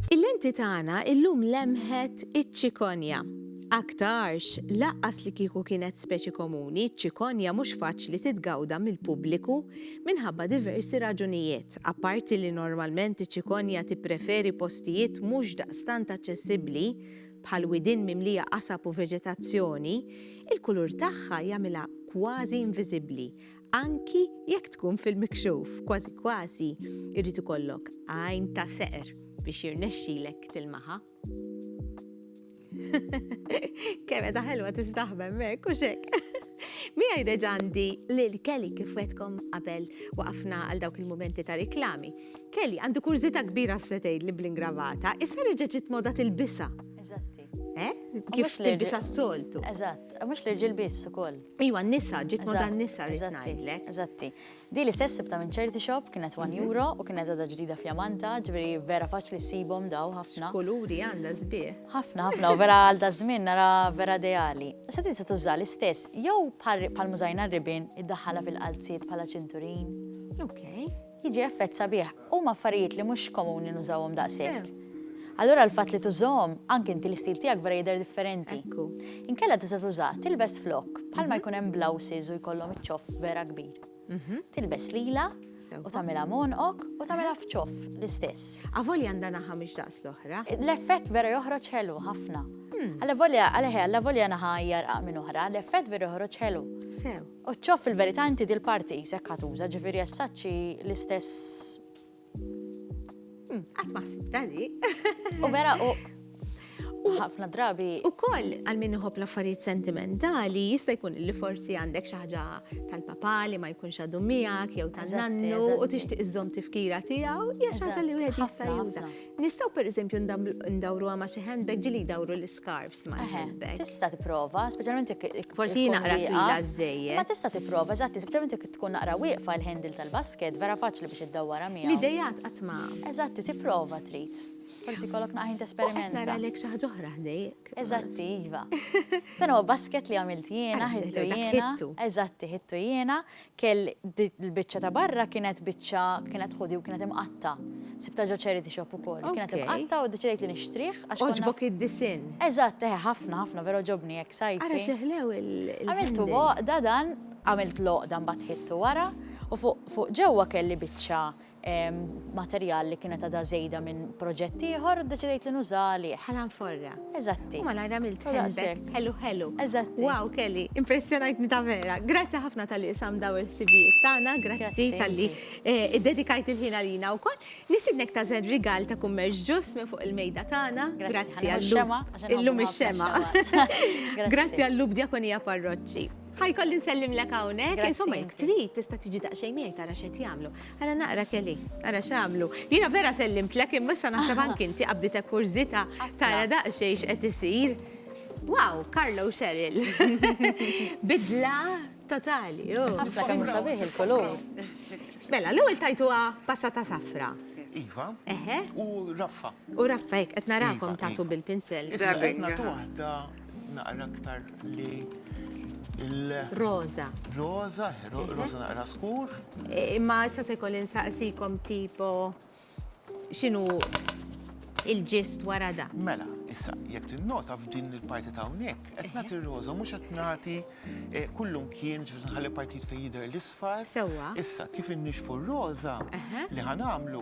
Il-lenti tagħna illum lemħet iċ-ċikonja. Aktarx, laqqas li kieku kienet speċi komuni, ċikonja mhux faċli titgawda mill-pubbliku minħabba diversi raġunijiet, apparti li normalment iċ-ċikonja tippreferi postijiet mhux daqstant aċċessibbli bħal widien mimlija qasab u veġetazzjoni, il-kulur tagħha jagħmilha kważi inviżibbli, anki jekk tkun fil-mikxuf, kważi kważi jrid ikollok għajn ta' seqr biex jirnexxilek tilmaha. Kemm qed ħelwa tistaħbem hekk u xek. Miegħi reġandi lil Kelly kif wetkom qabel waqafna għal dawk il-mumenti ta' riklami. Kelly, għandi kurżità kbira x'se tgħidli bl-ingravata, issa reġa' ġiet moda tilbisha. Eżatti. Eh? Kif tilbisha s-soltu. Eżatt, mhux l-irġiel biss ukoll. Iwa, nisa, ġiet moda nisa rrid ngħidlek. Eżatti. Di li stess sibta minn ċerti shop kienet 1 mhm. euro u kienet għadha ġdida fjamanta, ġifieri vera faċli ssibhom daw ħafna. Kuluri għandha sbieħ. Ħafna, ħafna, u vera għal da żmien nara vera ideali. Sa tinsa tuża l-istess jew bħal mużajna r-ribin iddaħħala fil-qalziet bħala ċinturin. Okay. Jiġi effett sabiħ. Huma affarijiet li mhux komuni nużawhom daqshekk. Allura l-fatt li tużahom, anke inti l-istil tiegħek vera jidher differenti. Ekku. Inkella tista' tuża, tilbes flokk, bħalma jkun hemm blouses u jkollhom iċ-ċoff vera kbir. Tilbes lila u tagħmilha m'għonqok u tagħmilha f'ċoff l-istess. Avolja għandha naħa mhix daqs l-oħra. L-effett vera joħroġ ħelu ħafna. Allavolja, għalih, allavolja naħa hija rqaq minn oħra, l-effett vera joħroġ ħelu. Sew. O ċoff fil-verità inti dil parti jisek ħatuża ġifieri essaċċi l-istess. Hmm, qatt ma ħsibta li. U vera u ħafna drabi. U koll għal min iħobb l-affarijiet sentimentali jista' jkun li forsi għandek xi ħaġa tal-papa li ma jkunx għadu miegħek jew tan-nannu u tixtieq iżżomm tifkira tiegħu hija xi ħaġa li wieħed jista' juża. Nistaw per eżempju ndawruha ma' xi handbag ġili jdawru l-scarves ma' handbag. Tista' tipprova, speċjalment jekk. Forsi naqra twila żejjed. Ma tista' tipprova, eżatti, speċjalment jekk tkun naqra wieqfa l-handle tal-basket, vera faċli biex iddawwarha miegħu. L-idejat qatt ma. Eżatti, tipprova trid. Forsi kollok naqħin tesperimenta. Nara lek xi ħaġa oħra ħdejk. Eżatti, iva. Dan huwa basket li għamilt jiena, ħittu jiena. Eżatti, ħittu jiena. Kell, l-biċċa ta' barra kienet biċċa, kienet hoodie u kienet imqatta'. Sibtha ġo charity shop ukoll. Kienet imqatta' u ddeċidejt li nixtrih għax. Għoġbok id-disinn? Eżatt, eħe, ħafna, ħafna, vera għoġobni hekk sajfi. Ara xi ħlew il-handle. Għamiltu b'għoqda dan, għamilt l-għoqda mbagħad ħidtu wara u fuq ġewwa kelli biċċa materjal li kienet għadha żejda minn proġett ieħor u ddeċidejt li nuża għalih. Bħala nforra. Eżatti. U malajr għamilt handbag. Ħelu ħelu. Eżatti. Wow, Kelly, impressjonajtni ta' vera. Grazzi ħafna tal-li isam daw il-ħsibijiet tagħna, grazzi tal-li eh, iddedikajt il-ħin għalina wkoll. Nisidnek ta' żen rigal ta' kummerġ ġus minn fuq il-mejda tagħna. Grazzi għall-lum. Illum ix-xema. Grazzi għall-lub djakonija parroċċi. Ħajkolli nsellimlek hawnhekk, insomma jekk trid tista' tiġi daqsxejn miegħi tara x'qed jagħmlu. Ara naqra Kelly, ara x'għamlu. Jiena vera sellimtlek imma issa naħseb anki inti qabditek kurżita tara daqsxejn x'qed isir. Wow, Carlo Cheryl. Bidla totali. Oh. Ħafna kemm sabiħ il-kulur. Mela, l-ewwel tajtuha passata safra. Iva. Eħe. U raffa. U raffa hekk qed narakom tagħtu bil-pinzel. Issa qed nagħtu waħda Naqra aktar li Rosa. Rosa, rosa naqra skur. Imma issa se jkolli nsaqsikom tipo x'inhu il-ġist wara da. Mela, Issa, jekk tinnota f'din il-parti ta' hawnhekk, qed nagħti roża mhux qed nagħti eh, kullum kien ġifieri nħalli partit fejn jidher l-isfar. Sewwa. Issa kif innixfu r-roża li ħanamlu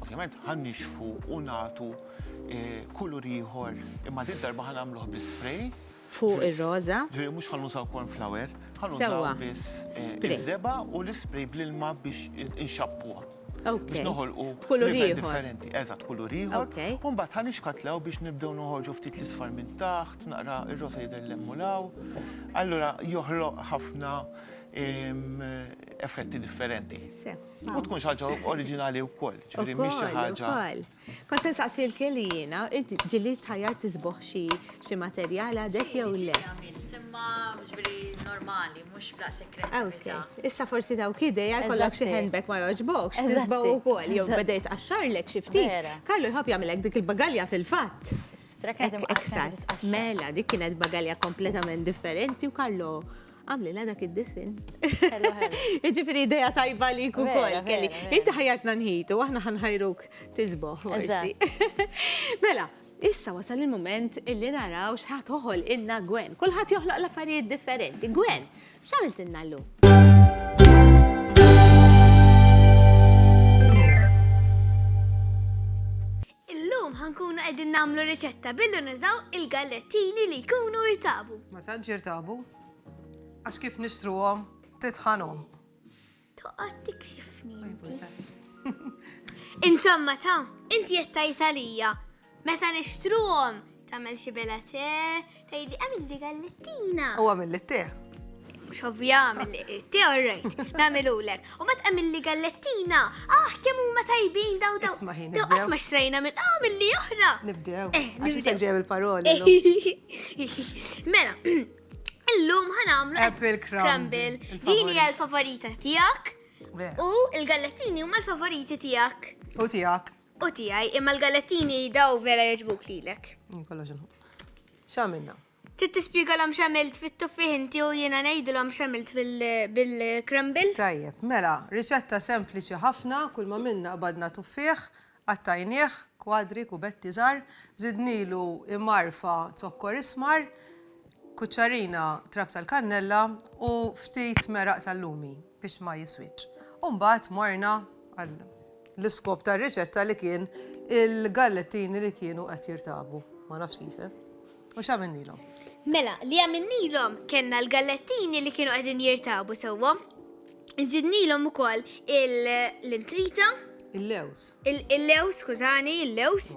ovvjament ħannixfu u nagħtu eh, kulur ieħor, imma dit darba ħan għamluħ bi spray. Fuq ir-roża. Ġifieri mhux ħan nużaw corn flour, ħan nużaw biss eh, iż-żeba u l-ispray bl-ilma biex inxappuha. Biex noħolqu kulur differenti. Eżatt, kulur ieħor. U mbagħad ħan ixkatlaw biex nibdew noħorġu ftit l-isfar minn taħt, naqra ir-roża jidher l-emmulaw. Allura joħloq ħafna effetti differenti. U tkun xaġa oriġinali u koll, ġviri miex xaħġa. Kont se nsaqsi l-Kelly jiena, inti ġieli tħajjar tisboħ xi xi materjal għadek jew le? Ġieli għamilt, imma ġifieri normali, mhux b'daqshekk kreattività. Ok, issa forsi dawk idea jkollok xi handbag ma jogħġbokx, tisbaw ukoll, jew beda jitqaxxarlek xi ftit. Vera. Carlo jħobb jagħmilek dik il-bagalja fil-fatt. Straked imqaxxar. Mela, dik kienet bagalja kompletament differenti u Carlo Għamlilha dak id-disinn. Ħelu, ħelu. Jiġifieri idea tajba li jkun Vera, koll kelli. vera, vera. Inti ħajjartna nħitu, aħna ħanħajruk tisboħ forsi. Mela, issa wasal il-mument illi naraw x'ħa toħolqilna Gwen. Kulħadd joħloq l-affarijiet differenti. Gwen, x'għamiltilna llum? Illum ħa nkunu qegħdin nagħmlu riċetta billi nużaw il-gallettini li jkunu irtabu. Ma tantx irtabu. Għax kif nixtruhom titħanhom. Toqgħod tikxifni inti. Insomma ta, inti qed tgħid għalija meta nixtruhom tagħmel xi bela te, Ejli, għamil li gallettina. U għamil li te. Mux ovvja għamil li te, all right. Għamil u l-ek. U mat għamil li gallettina. Ah, kemmu ma tajbin daw daw. Isma ħin. Daw għat ma xtrajna minn għamil ah, li oħra. Nibdew. Eh, nibdew. Għaxi ġem il-paroli. Mela, illum ħanamlu apple crumble. Dini għal favorita tijak. U il-gallettini huma l-favoriti tijak. U tijak. U tiegħi, imma l-galettini daw vera jogħġbuk lilek. Jien kollox inħobb. X'għamilna? Trid tispjegalhom x'għamilt fit-tuffieħ inti u jiena ngħidilhom x'għamilt bil-crumble? Tajjeb, mela, riċetta sempliċi ħafna, kull ma għamilna qbadna tuffieħ, qattajnieh kwadri, kubetti żgħar, żidnielu imgħarfa zokkor ismar, kuċċarina trab tal-kannella u ftit meraq tal-lumi. biex ma jiswitx. U mbagħad morna għal l-iskop tar-riċetta li kien il-gallettini li kienu qed jirtabu. Ma nafx kif. Eh? U x'għamilnilhom? Mela, li għamilnilhom kellna l-gallettini li kienu qegħdin jirtabu sewwa. Nżidnilhom ukoll l-intrita. Il-lews. Il-lews, skużani, il-lews.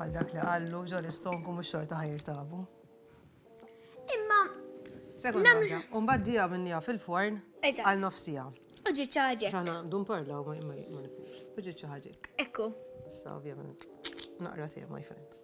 Għal dak li għallu, ġol istonku mux xorta ħajr tabu. Imma. Sekonda, un baddija minnija fil-forn għal nofsija. Uġi ċaġek. Għana, dun parla, ma nifux. Uġi ċaġek. Ekku. Sa, ovvijament. Naqra sija, my friend.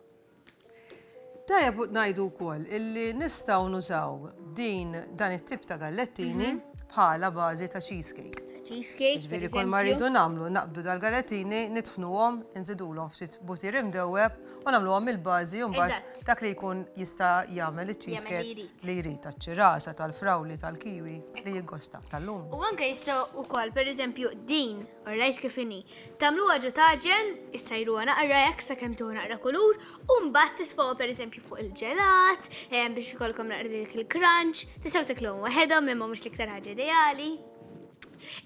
Tajjeb ngħidu wkoll illi nistgħu nużaw din dan it-tip ta' gallettini mhm. bħala bażi ta' cheesecake. Cheesecake. Ġifieri kull ma rridu nagħmlu naqbdu dal-gallettini, nitfnuhom, inżidulhom ftit butir imdewweb u nagħmluhom il-bażi u mbagħad dak li jkun jista' jagħmel iċ-cheesecake li jrid taċ-ċirasa, tal-frawli, tal-kiwi li jiggosta tal-lum. U anke jistgħu wkoll pereżempju din Orajt kif inhi. Tagħmluha ġo taġen, issajruha naqra hekk sakemm tieħu naqra kulur, u mbagħad titfgħuha pereżempju fuq il-ġelat, eh, biex ikollkom naqra dik il-crunch, tistgħu tiklhom waħedhom imma mhux l-iktar ħaġa ideali.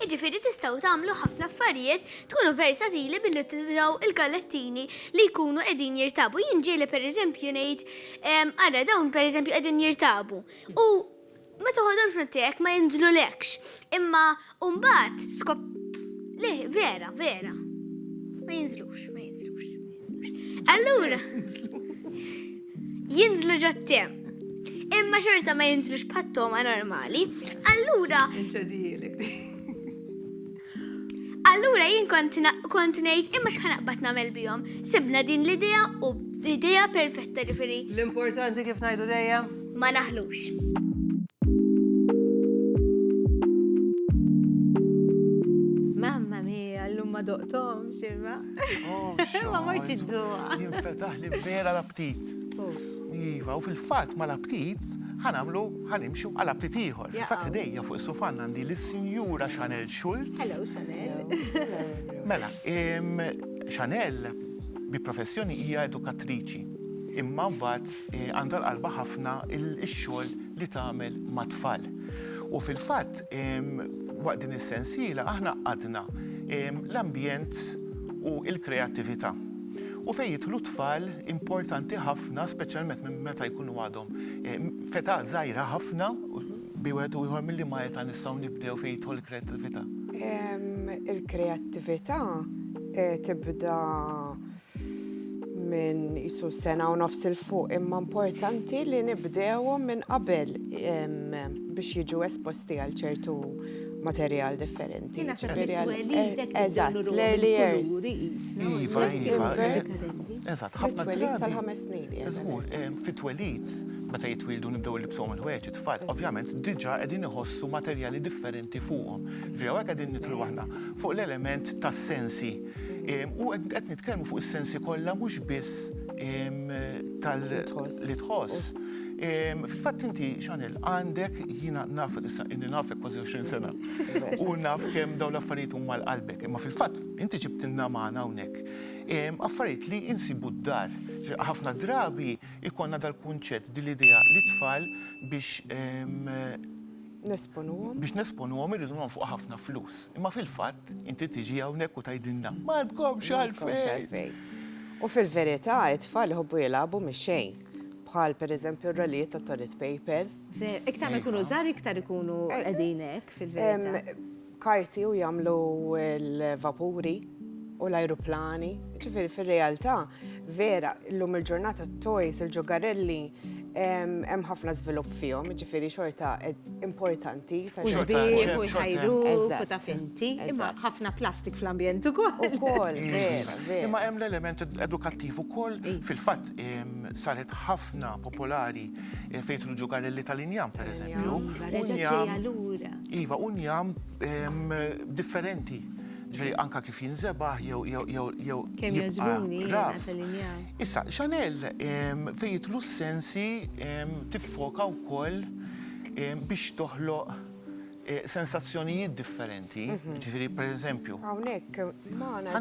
Iġifieri tistgħu tagħmlu ħafna affarijiet tkunu versatili billi tużaw il-gallettini li jkunu qegħdin jirtabu. Jien ġieli pereżempju ngħid, ehm, ara dawn pereżempju qegħdin jirtabu. U Meta ħodt il-frott tiegħek ma jinżlulekx, imma mbagħad skop Le, vera, vera. Ma jinżlux, ma jinżlux. Allura, jinżlu ġottem. Imma xorta ma jinżlux bħat-toma normali. Allura. Inċedijilek. Allura jien kont kont ngħid imma x'ħa naqbad nagħmel bihom. Sibna din l-idea u idea perfetta ġifieri. L-importanti kif ngħidu dejjem? Ma naħlux. Mamma mia, l-lum ma doqtom xirma. Oh, ma morċ id-duqa. Jinfetaħ li vera l-aptit. Iva, u fil-fat ma l-aptit ħanamlu Ħa nimxu għal aptit ieħor. Fil-fatt ħdejja fuq is-sufan għandi lis-Sinjura Chanel Schulz. Hello Chanel. Mela, Chanel bi professjoni hija edukattriċi. Imma mbagħad għandha l-qalba ħafna x-xogħol li tagħmel mat-tfal. U fil-fatt waqt din is-sensiela aħna qgħadna l-ambjent u l-kreattività. U fejn jidħlu t-tfal importanti ħafna speċjalment minn meta jkunu għadhom. Feta zaħira ħafna, bi wieħed u ieħor milli ma jeta nistgħu nibdew fejn jidħol il-kreattività? Il-kreattività eh, tibda minn isu sena u nofs il-fuq imma importanti li nibdewhom minn qabel biex jiġu esposti għal ċertu materjal differenti. Eżatt, l-early years. Iva, iva. Eżatt, ħafna drabi. Fit-twelid sal-ħames snin. Żgur, fit-twelid, meta jitwildu nibdew libsuhom il-ħwejjeġ it-tfal, ovvjament diġà qegħdin iħossu materjali differenti fuqhom. Ġifieri hawnhekk qegħdin nidħlu aħna fuq l-element tas-sensi. U qed nitkellmu fuq is-sensi kollha mhux biss tal- Li tħoss. Li tħoss. Fil-fatt inti, Chanel, għandek jiena naf, issa inni nafek kważi 20 sena, u naf kemm dawn l-affarijiet huma għal qalbek. Imma fil-fatt inti ġibtilna magħna hawnhekk affarijiet li insibu d-dar. Ħafna drabi jkollna dal-kunċett din l-idea li t-tfal biex Nesponuhom. Biex nesponuhom irridu nonfqu ħafna flus. Imma fil-fatt inti tiġi hawnhekk u tgħidilna m'għandkomx għalfejn. U fil-verità it-tfal iħobbu jilagħbu mix-xejn. Bħal pereżempju r-rolijiet tat-toilet paper. Iktar ma jkunu żgħar iktar ikunu qegħdin hekk fil-verità. karti u jagħmlu l-vapuri u l-ajruplani. Ġifieri fir-realtà vera llum il-ġurnata t-toys, il-ġogarelli hemm ħafna żvilupp fihom, ġifieri xorta importanti. U jbigħu u jħajru u taf inti. Imma ħafna plastik fl-ambjent ukoll. Ukoll, vera, vera. Imma hemm l-element edukattiv ukoll. Fil-fatt saret ħafna popolari fejn kienu ġogarelli tal-injam, pereżempju. Reġgħet ġejja lura. Iva, hu njam differenti. Ġifieri anke kif jinżebaħ jew jew jew jew. Kemm jogħġbuni tal-injam. Issa, Chanel fejn jidħlu s-sensi tiffoka wkoll biex toħloq sensazzjonijiet differenti. Ġifieri pereżempju. Hawnhekk magħna.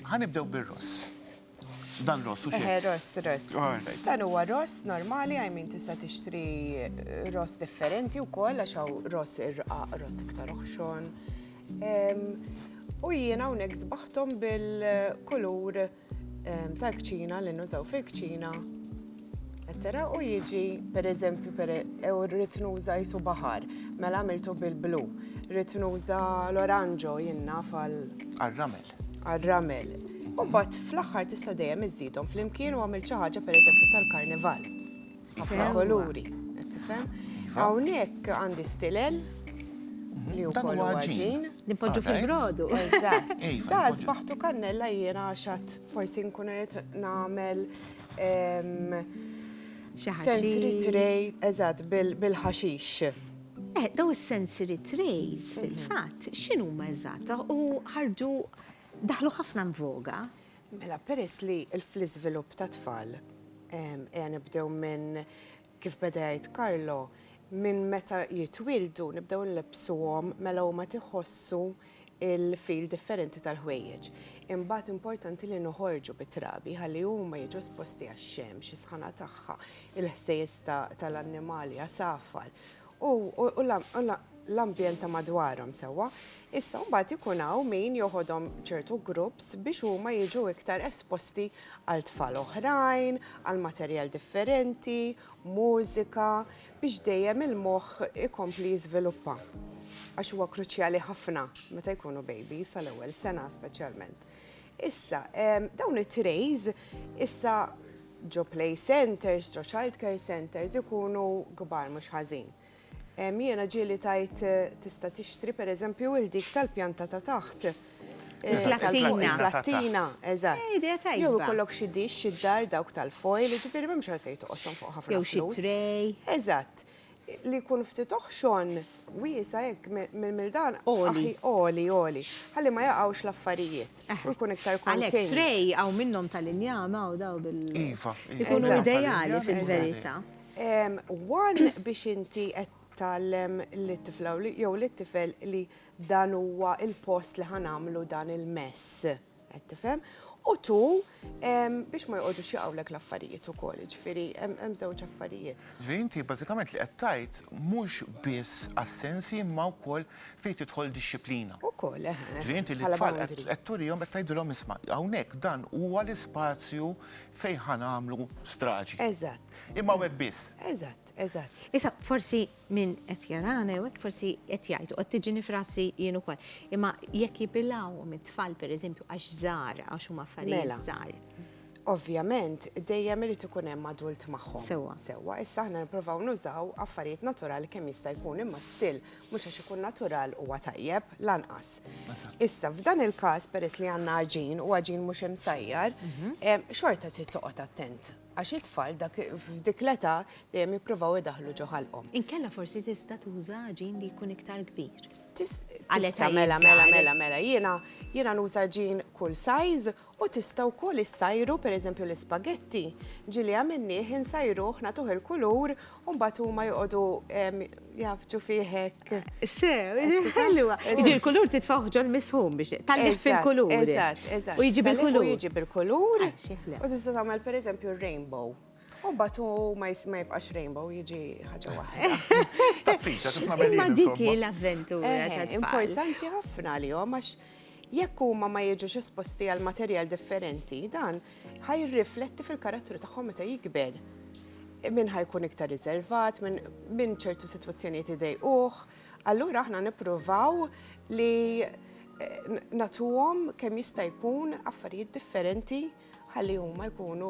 Ħa nibdew bir-ross. Dan ross u xejn. Eħe, ross, ross. Dan huwa ross normali, I mean tista' tixtri ross differenti wkoll għax hawn ross irqaq, ross iktar oħxon. U jiena hawnhekk sbaħthom bil-kulur tal-kċina li nużaw fil-kċina. Ettera u jiġi pereżempju ew rrid nuża jisu baħar, mela għamiltu bil-blu. Rrid nuża l-oranġo jien naf għal. Għar-ramel. għar-ramel. U mbagħad fl-aħħar tista' dejjem iżżidhom flimkien u għamil xi ħaġa pereżempju tal-karnival. Ħafna koluri, qed tifhem? Iva. Hawnhekk għandi stilel mhm. li wkoll huwa ġin. Nipoġġu fil-brodu. Eżatt. Iva, da sbaħtu kannella jiena għaxat forsi nkun irid nagħmel sensory tray eżatt bil-ħaxix. Eh, daw is-sensory trays mhm. fil-fatt x'inhuma eżatt u ħarġu daħlu ħafna nvoga. Mela peress li fl-iżvilupp ta' tfal ejja nibdew minn kif bedajt Karlo minn meta jitwildu nibdew nlebsuhom mela huma tiħossu il-fil differenti tal-ħwejjeġ. Imbagħad importanti li noħorġu bit-trabi ħalli huma jiġu esposti għax-xemx, is-sħana tagħha, il-ħsejjes tal-annimali għasafar u l-ambjent ta' madwarhom sewwa. Issa mbagħad ikun hawn min joħodhom ċertu groups biex huma jiġu iktar esposti għal tfal oħrajn, għal materjal differenti, mużika, biex dejjem il-moħħ ikompli jiżviluppa. Għax huwa kruċjali ħafna meta jkunu babies sal-ewwel sena speċjalment. Issa, dawn it-trays issa ġo play centers, ġo child care centers ikunu kbar mhux ħażin. Jiena ġieli tajt tista' tixtri pereżempju il dik tal-pjanta ta' taħt Il-plattina. Il-plattina, eżatt. Idea tajba. Jew ikollok xi dix, xi dar dawk tal-foil, ġifieri m'hemmx għalfejn toqgħodhom fuq ħafna flus. Jew xi tray. Eżatt. Li jkun ftit oħxon wiesa' hekk minn dan. Għoli. Għoli, għoli. Ħalli ma jaqgħux l-affarijiet. U jkun iktar contained. Għalhekk tray hawn minnhom tal-injam hawn dawn bil. Iva. Ikunu ideali fil-verità. One biex inti qed tgħallem lit-tifla jew lit-tifel li Dan huwa l-post li ħa nagħmlu dan il-mess. Qed tifhem? U tu biex ma joqogħdux jaqgħulek l-affarijiet ukoll, jiġifieri hemm żewġ affarijiet. Ġifieri inti bażikament li qed tgħid mhux biss assensi imma wkoll fejn tidħol dixxiplina. Ukoll, eħe. Ġifieri inti lit-tfal qed turihom qed tgħidilhom isma' hawnhekk dan huwa l-ispazju fejn ħa nagħmlu straġi. Eżatt. Imma hawnhekk biss. Eżatt, eżatt. Issa forsi Min qed jarana jew hekk forsi qed jgħid u qed tiġini f'rasi jien ukoll. Imma jekk jibilgħuhom it-tfal pereżempju għax żgħar għax huma affarijiet mela, żgħar. Ovvjament dejjem irid ikun hemm adult magħhom. Sewwa. Sewwa, issa aħna nippruvaw nużaw affarijiet naturali kemm jista' jkun imma still mhux għax ikun natural huwa tajjeb lanqas. Issa f'dan il-każ peress li għandna aġin u aġin mhux imsajjar, mhm. xorta trid toqgħod attent Għax it-tfal dak f'dik l-età dejjem jippruvaw idaħħlu ġo ħalqhom. Inkella forsi tista' tuża għaġin li jkun iktar kbir. Tis, tista' mela mela mela mela jiena jiena nuża għaġin kull size u tista' wkoll issajru pereżempju l-ispagetti, ġieli għamilnieh insajruh nagħtuh il-kulur U mbagħad huma joqogħdu jafġu fih hekk. Sew, ħelwa. Jiġi l-kulur titfawh ġol misħum biex tallih fil-kulur. Eżatt, eżatt. U jiġi bil-kulur. U jiġi bil-kulur. U tista' tagħmel pereżempju r-rainbow. U batu ma jibqax rainbow jiġi ħaġa waħda. Taffiċa, kif nagħmel Ma dik l-avventura. Importanti ħafna li għax jekk huma ma jiġux esposti għal materjal differenti, dan Ħa jirrifletti fil-karattru tagħhom meta jikber. Min ħa jkun iktar riservat, minn ċertu sitwazzjonijiet idejquh, allura aħna nippruvaw li eh, natuhom kemm jista' jkun affarijiet differenti ħalli huma jkunu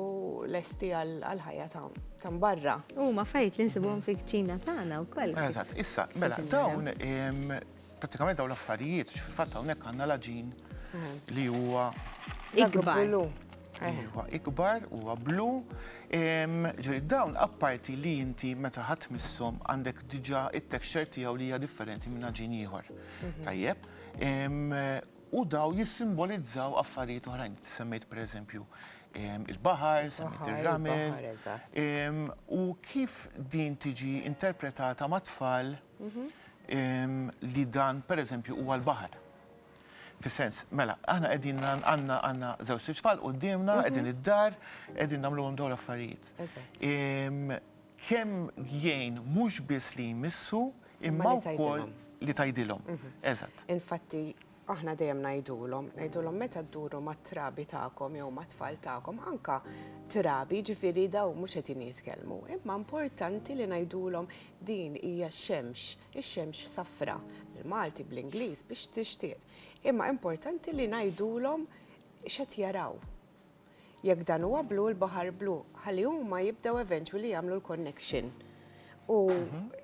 lesti għal ħajja ta' barra. Huma fajt li nsibhom fil-kċina tagħna wkoll. Eżatt, issa, mela dawn Prattikament dawn l-affarijiet, fil-fatt hawnhekk għandna l-aġin li huwa ikbar. Huwa ikbar, huwa blu. Ġifieri dawn apparti li inti meta ħadd misshom għandek diġà it-texture tiegħu li hija differenti minn aġin ieħor. Mhm. Tajjeb. U daw jissimbolizzaw affarijiet oħrajn. Semmejt pereżempju il-baħar, semmejt ir-ramel. U kif din tiġi interpretata mat-tfal li dan pereżempju huwa l-baħar. Fis-sens, mela, aħna qegħdin għandna għandna żewġ tfal quddiemna, qegħdin id-dar, qegħdin nagħmluhom dawn l-affarijiet. Kemm jgħin mhux biss li jmissu imma wkoll li tgħidilhom. Eżatt. Infatti, Aħna dejjem ngħidulhom, ngħidulhom meta dduru mat-trabi tagħkom jew mat-tfal tagħkom, anke trabi, jiġifieri dawn mhux qegħdin jitkellmu, imma importanti li ngħidulhom din hija x-xemx, ix-xemx safra, bil-Malti, bl-Ingliż, biex tixtieq. Imma importanti li ngħidulhom x'qed jaraw. Jekk dan huwa blu, il-baħar blu, ħalli huma jibdew eventually jagħmlu l-connection. U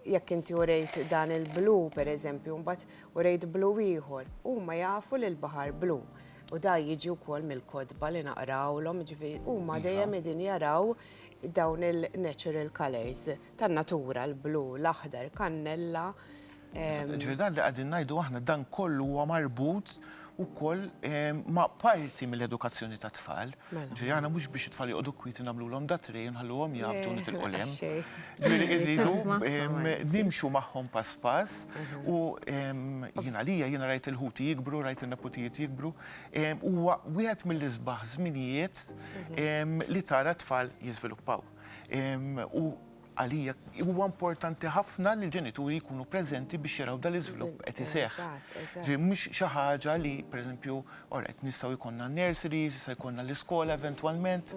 jekk inti urejt dan il-blu, per eżempju, mbagħad urejt blu ieħor, huma jafu li l-baħar blu. U da jiġi wkoll mill-kodba li naqrawlhom, ġifieri huma dejjem qegħdin jaraw dawn il-natural colors. tan-natura, l-blu, l-aħdar, kannella. Ġifieri dan li qegħdin ngħidu aħna dan kollu huwa marbut ukoll ma' parti mill-edukazzjoni tat-tfal. Mela. Ġifieri aħna mhux biex it-tfal joqogħdu kwieti nagħmlulhom da tray u nħalluhom jgħabdu u nitilqu 'l hemm. Le, xejn. Ġifieri irridu nimxu magħhom pass pass u jien għalija jiena rajt il-ħuti jikbru, rajt in-neputijiet jikbru, huwa wieħed mill-isbaħ żminijiet li tara t-tfal jiżviluppaw. U għalija huwa importanti ħafna li l-ġenituri jkunu preżenti biex jaraw dan l-iżvilupp qed iseħħ. Mhux xi ħaġa li pereżempju qed nistgħu jkollna n-nursery, jista' jkollna l-iskola eventwalment.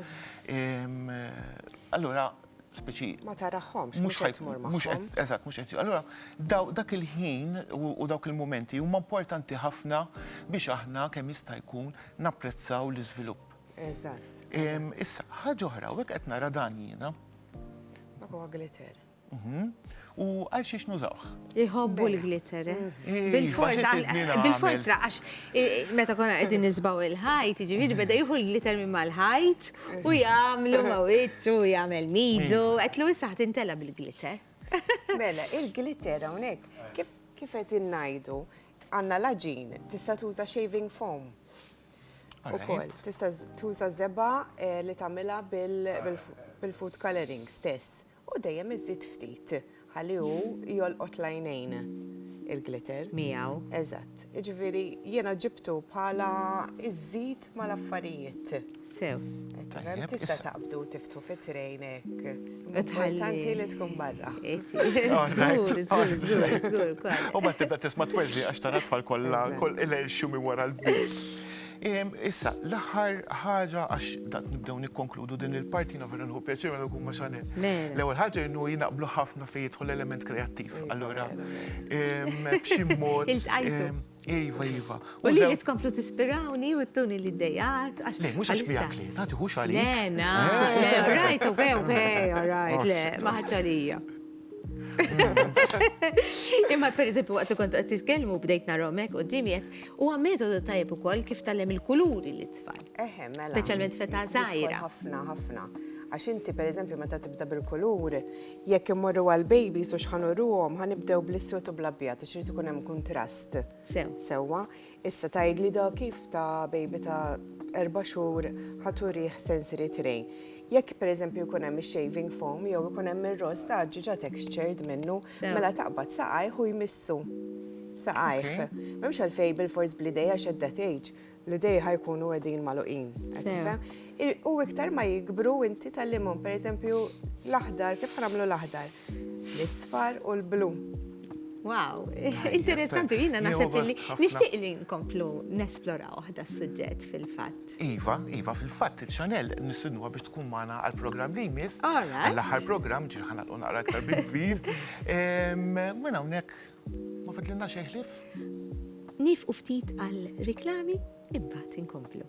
Allura speċi Ma tarahomx, mhux qed tmur magħhom. Eżatt, mhux qed. Allura dak il-ħin u dawk il-mumenti huma importanti ħafna biex aħna kemm jista' jkun napprezzaw l-iżvilupp. Eżatt. Issa, ħaġa oħra, u qed nara dan jiena. Dak huwa glitter. Mhm. U għal xiex nużawh? Iħobbu l-glitter, eh? eh Bil-fors, bil-fors, għax eh, meta konna għedin nizbaw il-ħajt, ġiviri beda juhu l-glitter minn mal-ħajt u jamlu mawit u jamel midu, għetlu jissaħ tintela bil-glitter. Mela, il-glitter għonek, kif għedin najdu, għanna laġin, tista tuża shaving foam. Ukoll tista' tuża żebgħa eh, li tagħmilha bil-food coloring stess u dejjem iżid ftit ħalli hu jolqot lajnejn il-glitter. Miegħu. Eżatt. Jiġifieri jiena ġibtu bħala iżid mal-affarijiet. Sew. Tista' taqbdu Tufi trejnek. Importanti li tkun barra. Zgur, zgur, zgur, zgur, kwa. U ma tibda tisma t-twezzi għax tara tfal kolla, koll il-elxu mi wara l-bits. Issa, l-aħħar ħaġa għax dat nibdew nikkonkludu din il-parti na vera nħu pjaċir għal kumma xanel. L-ewwel ħaġa jinnu jinaqblu ħafna fejn jidħol element kreattiv. Allura, b'xi mod. Iva, iva. U li jitkomplu tispirawni u t-tuni li d-dejat. Le, mux għax bijak li, ta' tiħux għalli. Le, na, eh. le, rajt, u għew, għew, rajt, le, maħġalija. Imma per eżempju waqt li kont qed titkellmu bdejt naromek u dimjet huwa metodu tajjeb ukoll kif tallem il-kuluri li tfal. Mela. Speċjalment feta żgħira. Ħafna, ħafna. Għax inti per eżempju meta tibda bil-kulur, Jekk immorru għal babies u x'ħa nuruhom, ħa nibdew bl-iswed u bl-abjad għax irid ikun hemm kuntrast. Sew. Sewwa. Issa tgħidli da kif ta' baby ta' erba' xhur ħa turih sensory tray. Jekk pereżempju jkun hemm ix-shaving foam jew ikun hemm ir-ross ta' ħġieġa textured minnu, mela taqbad saqajh u jmissu saqajh. M'hemmx għalfejn bilfors bl-idejha x'qed da tgħidx. L-idej ħa jkunu għedin maluqin. U iktar ma jikbru inti tal-limon, per eżempju, l-aħdar, kif ħanamlu l-aħdar? L-isfar u l-blu. Wow, interessanti, jina nasib li nishtiq li nkomplu nesplora uħda s-sujġet fil-fat. Iva, Iva, fil-fat, ċanel nisinu biex tkun maħna għal-program li jmiss. Għall-ħar program, ġirħana l-unaqra aktar bil-kbir. Mena unek Ma fidlinna xejn ħlief. Niefqu ftit għal riklami imbagħad inkomplu.